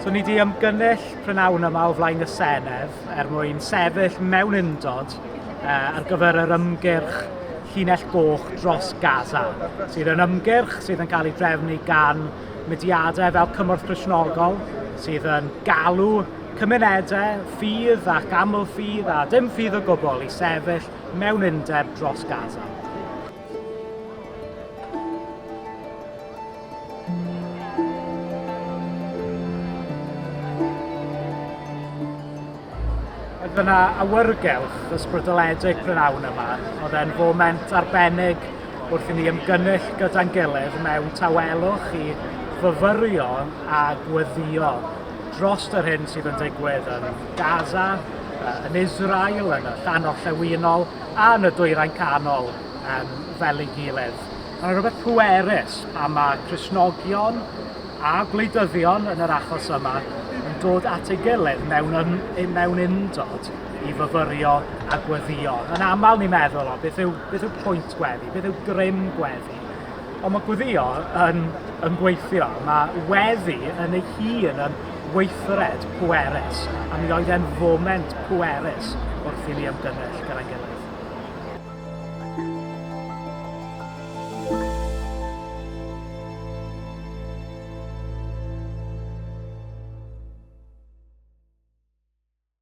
So ni di ymgynnull prynawn yma o flaen y Senedd er mwyn sefyll mewn undod uh, ar gyfer yr ymgyrch llinell goch dros Gaza, sydd yn ymgyrch sydd yn cael ei drefnu gan mudiadau fel Cymorth Crisnogol, sydd yn galw cymunedau ffydd ac aml-ffydd a dim ffydd o gwbl i sefyll mewn undeb dros Gaza. Oedd yna awyrgylch ysbrydoledig prynawn yma. Oedd e'n foment arbennig wrth i ni ymgynnull gyda'n gilydd mewn tawelwch i fyfyrio a gweddio dros yr hyn sydd yn digwydd yn Gaza, yn Israel, yn y llan orllewinol a yn y dwyrain canol um, fel ei gilydd. Mae'n rhywbeth pwerus pan mae Cresnogion a gwleidyddion yn yr achos yma yn dod at ei gilydd mewn, yn, mewn undod i fyfyrio a gweddio. Yn aml ni'n meddwl, o, beth yw, beth yw pwynt gweddi, beth yw grym gweddi? Ond mae gweddïo yn, yn gweithio, mae weddi yn ei hun yn weithred pwerus, a mi oedd e'n foment pwerus wrth i ni ymgynnull gyda'n gilydd.